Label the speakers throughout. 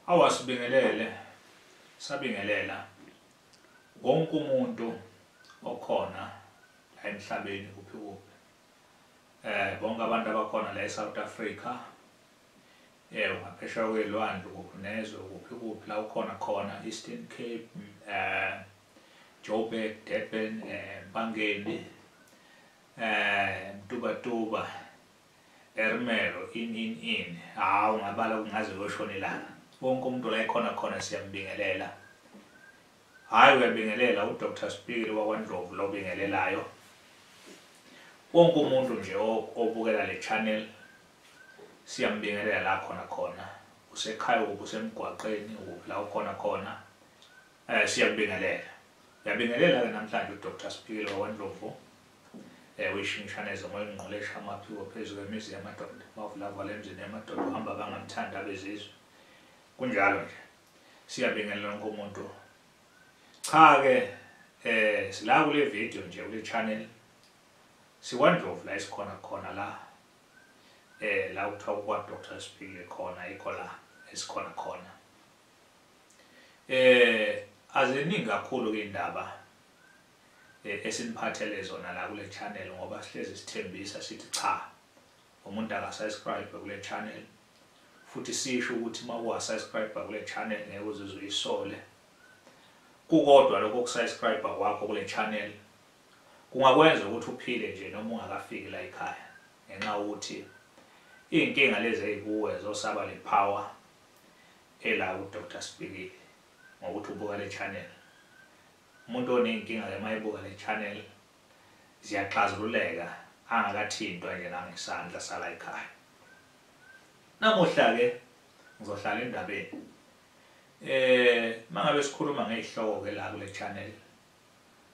Speaker 1: Awasibingelele sabingelela wonke umuntu okhona la emhlabeni kuphi kuphi eh bonke abantu abakhona la eSouth Africa eh ungaphesheya kwelwandle kuphi nezwe kuphi kuphi la ukhona khona Eastern Cape eh Joburg Durban eh Bangeni eh Mtubatuba Ermelo in in in hawu ngabala kungaze koshonelana wonke umuntu la ekhona khona siyambingelela hayi uyabingelela uDr Spikile wakwaNdlovu lo bingelelayo wonke umuntu nje obukela le channel siyambingelela la khona khona usekhaya ukuphi usemgwaqeni ukuphi la ukhona khona um siyakubingelela uyabingelela-ke namhlanje uDr Spikile wakwaNdlovu Ewe ishintshanezo ngoye ngqolesha amaphiwo phezu kwemizi yamadoda bavulavala emzini yamadoda uhamba abangamthandi abezizwe kunjalo nje siyabingelela wonke umuntu cha-ke eh sila kule video nje kule channel sikwandlovu la esikhona khona la eh la kuthiwa kukwa-dr sibhile khona ikho la esikhona khona eh aziningi kakhulu-ke iy'ndaba eh, esiniphathele zona la kule channel ngoba sihlezi sithembisa sithi cha umuntu akasubscribe kule channel futhi sisho ukuthi uma uwasubscribe kule channel ngeke uzizwe uyisole kukodwa lokho kusubscribe kwakho kule channel kungakwenza ukuthi uphile nje noma ungakafiki la ekhaya ngenxa ukuthi iy'nkinga lezi ey'kuwe zosaba le power ela udr sibikile ngokuthi ubuka le channel Umuntu oneyinkinga ke mayibuka le channel ziyaxazululeka angakathintwa nje nangesandla sala ekhaya. Namuhla ke ngizohlala endabeni. Eh mangabe sikhuluma ngezihloko ke la kule channel.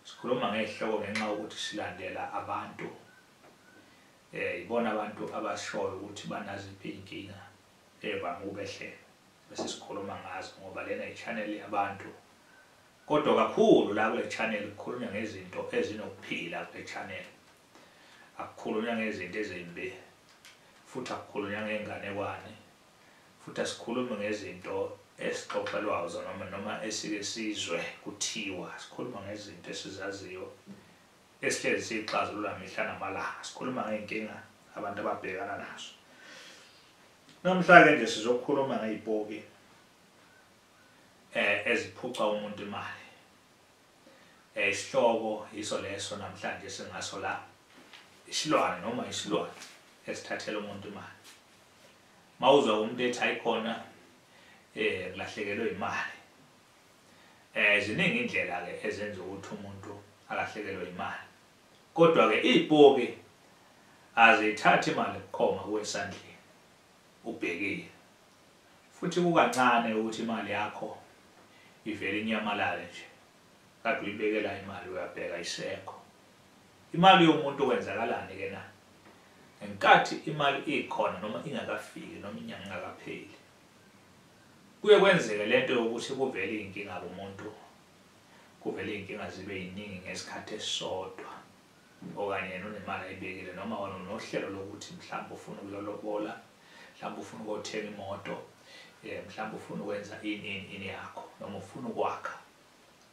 Speaker 1: Sikhuluma ngezihloko ngenxa ukuthi silandela abantu. Eh ibona abantu abashoyo ukuthi banaziphi inkinga evame ukubehlela. Bese sikhuluma ngazo ngoba lena i channel yabantu. Kodwa kakhulu la kule channel kukhulunywa ngezinto ezinokuphila kule channel. Akukhulunywa ngezinto ezimbi futhi akukhulunywa ngey'nganekwane futhi asikhulumi ngezinto esixoxelwayo zonoma noma esike sizwe kuthiwa sikhuluma ngezinto esizaziyo esihlezi siyixazulula mihla namalanga sikhuluma ngey'nkinga abantu ababhekana nazo namhla-ke nje sizokhuluma ngey'poki eh eziphuca umuntu imali eh isihloko yiso leso namhlanje singaso la isilwane noma isilwane esithathela umuntu imali mawuzwa umuntu ethi ayikhona eh kulahlekelwe imali eh ziningi indlela ke ezenza ukuthi umuntu alahlekelwe imali kodwa ke izipoki azithathi imali kukhoma kwesandleni Ubhekile. Futhi kukancane ukuthi imali yakho ivele inyamalale nje. Kade uyibekela imali uyabheka isekho. Imali yomuntu kwenzakalani ke na? Ngenkathi imali ikhona noma ingakafiki noma inyanga ingakapheli. Kuye kwenzeke lento yokuthi kuvele izinkinga kumuntu. Kuvele izinkinga zibe yiningi ngesikhathi esisodwa. okanye yena unemali ayibekile noma wena unohlelo lokuthi mhlawumbe ufuna ukuyolobola mhlawumbe ufuna ukothenga imoto um mhlawumbe ufuna ukwenza ini ini ini yakho noma ufuna ukwakha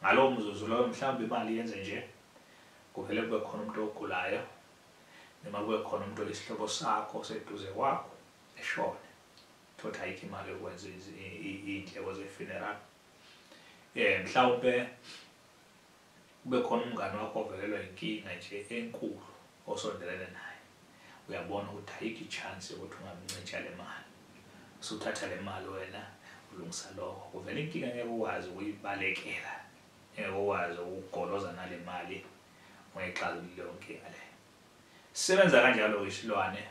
Speaker 1: ngalowo mzuzu loyo mhlawumbe imali yenze nje kuvele kube khona umuntu ogulayo noma kube khona umuntu oyisihlobo sakho seduze kwakho eshone thothi ayikho imali yokwenza iy'ndleko ze-funeral um mhlawumpe Kube khona umngani wakho ovelelwa yinkinga nje enkulu osondelene naye. Uyabona ukuthi ayikho i-chance yokuthi ungamncija le mali. Usuthatha le mali wena ulungisa lokho. Kuvela inkinga engeke ukwazi ukuyibalekela, engeke ukwazi ukugoloza nale mali ungayixazululi leyo nkinga leyo. Sisebenza kanjalo-ke isilwane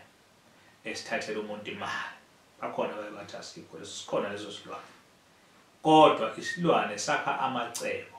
Speaker 1: esithathela umuntu imali. Bakhona abaye bathi asikho leso, sikhona leso silwane. Kodwa isilwane sakha amacebo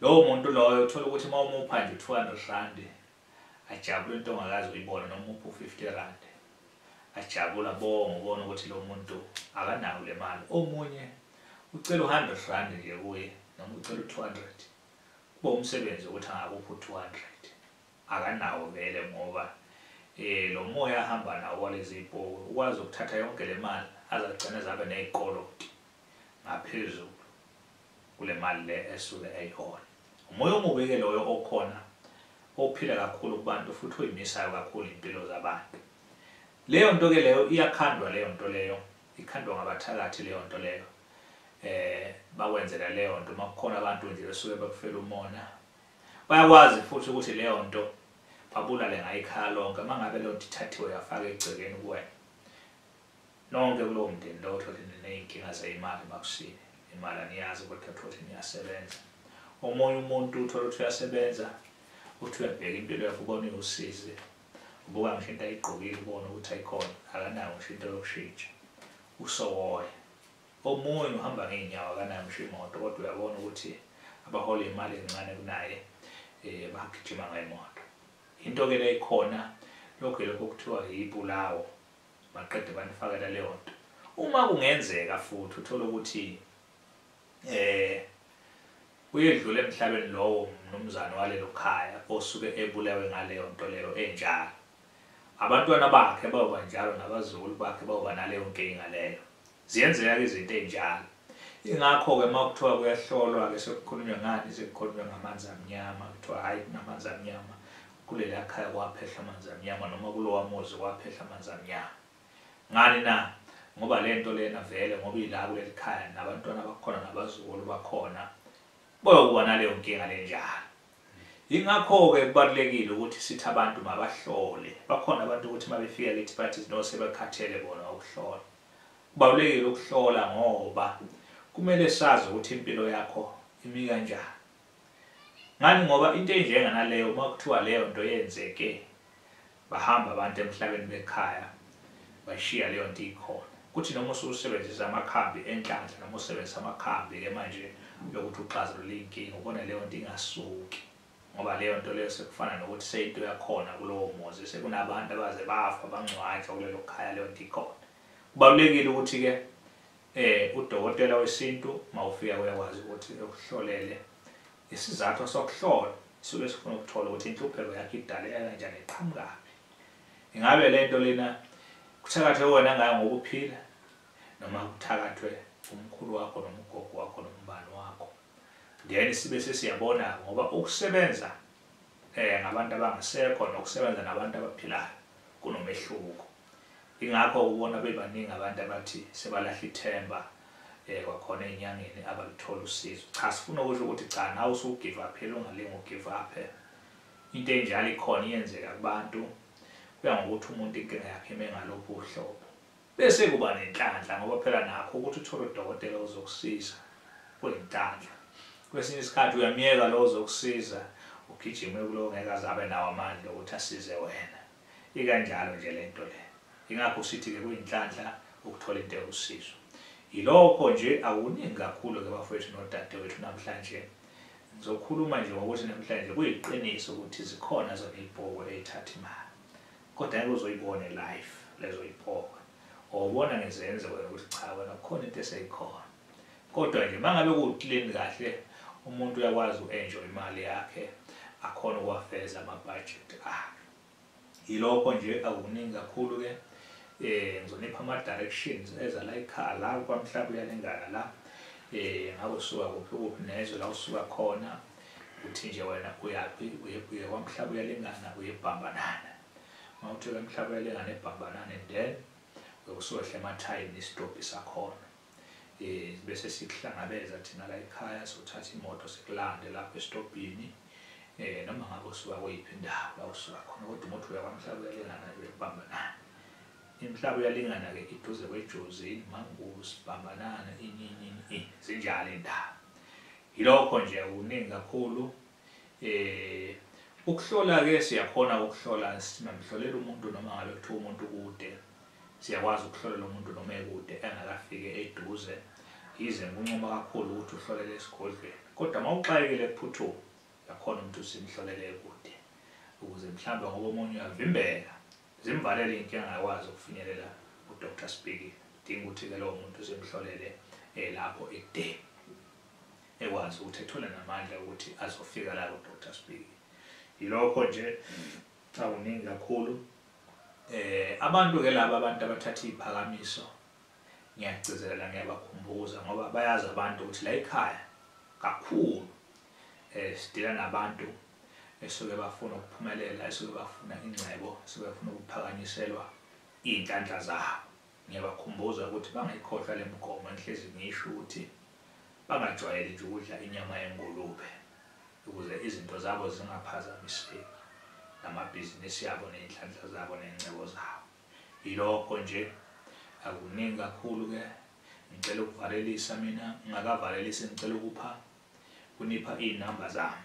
Speaker 1: Lowo muntu loyo uthola ukuthi uma umupha nje 200 rand ajabule into ongakazi uyibona noma umupha u-50 rand ajabula bonga ubona ukuthi lo muntu akanayo le mali omunye ucela u-100 rand nje kuye noma ucela u-200 kuba umsebenzi ukuthi angakuphi u-200 akanawo vele ngoba eh lo moya ahamba nawo walezi ibhoku ukwazi ukuthatha yonke le mali azagcina zabe nezikolo ngaphezulu kule mali le esuke eyihola. Umoya omubi-ke loyo okhona ophila kakhulu kubantu futhi oyimisayo kakhulu impilo zabantu. Leyo nto-ke leyo iyakhandwa leyo nto leyo, ikhandwa ngabathakathi leyo nto leyo. Eh bakwenzela leyo nto uma kukhona abantu nje besuke bekufela umona. Bayakwazi futhi ukuthi leyo nto babulale ngayikhaya lonke uma ngabe leyo nto ithathiwe yafaka egcekeni kuwena. Nonke kulowo mndeni lowo uthole niney'nkinga zeyimali makusile imali aniyazi kodwa uthole niyasebenza omunye umuntu uthole ukuthi uyasebenza uthi uyabheka impilo yakho ubona iwusizi ubuka ngisho into ayigqokile ubona ukuthi ayikhona akanayo ngisho into yokushintsha usowoya omunye uhamba ngey'nyawo akanayo ngisho imoto kodwa uyabona ukuthi abahole imali encane kunaye um bagijima ngayimoto into-ke le ikhona lokhu yilokho okuthiwa yibulawo maqede banifakela leyo nto uma kungenzeka futhi uthole ukuthi eh uyedlula emhlabeni lowo mnumzane walelo khaya osuke ebulewe ngaleyo nto leyo enjalo abantwana bakhe bayoba njalo nabazukulu bakhe bayoba naleyo nkinga leyo Ziyenzeka-ke izinto ey'njalo. Ingakho-ke uma kuthiwa kuyahlolwa-ke sekukhulunywa ngani, sekukhulunywa ngamanzi amnyama, kuthiwa hhayi kunamanzi amnyama, kuleliya khaya kwaphehla amanzi amnyama noma kulowa muzi kwaphehla amanzi amnyama. Ngani na? Ngoba le nto lena vele ngoba ila kuleli khaya nabantwana bakhona nabazukulu bakhona boyokuba naleyo nkinga lenjalo. Yingakho-ke kubalulekile ukuthi sithi abantu mabahlole. Bakhona abantu ukuthi uma befika kithi bathi no sebekhathele bona ukuhlola. Kubalulekile ukuhlola ngoba kumele sazi ukuthi impilo yakho imi kanjani. Ngani ngoba into enjenganaleyo uma kuthiwa leyo nto yenzeke Bahamba abantu emhlabeni bekhaya bashiya leyo nto ikhona. Kuthi noma ususebenzisa amakhambi enhlanhla noma usebenzisa amakhambi ke manje yokuthi uxazulule inkinga ubona leyo nto ingasuki ngoba leyo nto leyo sekufana nokuthi seyinto yakhona kulowo muzi sekunabantu abaze bafa bangcwatshwa kulelo khaya leyo nto ikhona kubalulekile ukuthi-ke eh udokotela wesintu mawufika uyakwazi ukuthi ekuhlolele Isizathu sokuhlola sisuke sifuna ukuthola ukuthi inhlupheko yakhe idaleka kanjani iqhamukaphi. Ingabe le nto lena kuthakathwe wena ngayo ngokuphila noma kuthakathwe umkhulu wakho noma ugogo wakho noma ubani wakho. Then sibe sesiyabona ngoba ukusebenza eh ngabantu abangasekho nokusebenza nabantu abaphilayo kunomehluko. Ingakho ubona bebaningi abantu abathi sebalahla ithemba eh kwakhona enyangeni abaluthola usizo cha sifuna ukusho ukuthi cha nawe usugive up phela ungalinga ugive up into enjalo ikhona iyenzeka kubantu kuya ngokuthi umuntu inkinga yakhe ime ngalophi uhlobo bese kuba nenhlanhla ngoba phela nakho ukuthi uthole udokotela ozokusiza kuyinhlanhla kwesinye isikhathi uyamyeka lo ozokusiza ugijime kulowo ngeke azabe nawo amandla ukuthi asize wena Ikanjalo nje le nto le. Yingakho sithi-ke kuyinhlanhla ukuthola into ewusizo. Yilokho nje akuningi kakhulu-ke bafowethu nodadewethu namhlanje. Ngizokhuluma nje ngokuthi namhlanje kuyiqiniso ukuthi zikhona zona iy'poki ey'thatha imali. Kodwa ngeke uzoyibone life lezo y'poki. Wawubona ngizenze wena ukuthi cha wena kukhona into eseyikhona. Kodwa nje uma ngabe kuwu-clean kahle umuntu uyakwazi u-enjoy imali yakhe akhone ukuwafeza amabhajethi akhe. yilokho nje akukuningi kakhulu ke eh ngizonipha ama directions eza la ekhaya la kwamhlaba uyalingana la eh ngabe usuka kuphi kuphi nezwe la usuka khona uthi nje wena uyaphi uye kwamhlaba uyalingana uyebhambanana uma uthe kwamhlaba uyalingana ebhambanana and then uyokusohla emathayini isitobhi sakhona um bese sikuhlangabeza thina la ekhaya sothatha imoto sikulande lapho esitobhini um noma ngabe usuka kweyiphi indawo la usuka khona kodwa umuthi uyakwamhlaba uyalingana uyakubambanana imhlaba uyalingana-ke iduze kwejozini mangulu sibhambanana ininini zinjalo iy'ndaba yilokho nje kuningi kakhulu Eh ukuhlola ke siyakhona ukuhlola singamhlolela umuntu noma ngabe kuthiwa umuntu kude. Siyakwazi ukuhlolela umuntu noma ekude engakafike eduze. Yize ngikunquma kakhulu ukuthi uhlolele esigodlweni. Kodwa uma uxakekile kuphuthuma uyakhona ukuthi usimhlolele ekude ukuze mhlawumbe ngoba omunye uyavimbeka zimvalele inkinga ngakwazi ukufinyelela uDr Sibhekile. Dinga ukuthi ke lowo muntu simhlolele eh, lapho ekudeni. ekwazi ukuthi ethole namandla ukuthi azofika la kudr sibiki yilokho nje akuningi kakhulu eh abantu ke laba abantu abathatha iziphakamiso ngiyagcizelela ngiyabakhumbuza ngoba bayazi abantu ukuthi la ekhaya kakhulu eh sidila nabantu esuke bafuna ukuphumelela esuke bafuna ingcebo esuke bafuna ukuphakanyiselwa izinhlanhla zabo Ngiyabakhumbuza ukuthi bangayikhohlwa le migomo engihlezi ngiyisho ukuthi bangajwayeli nje ukudla inyama yengulube ukuze izinto zabo zingaphazamiseki namabhizinisi abo ney'nhlanhla zabo ney'ngcebo zabo. Yilokho nje, akukuningi kakhulu-ke. Ngicela ukuvalelisa mina, ngingakavalelisi ngicela ukupha, kunipha iy'namba zami.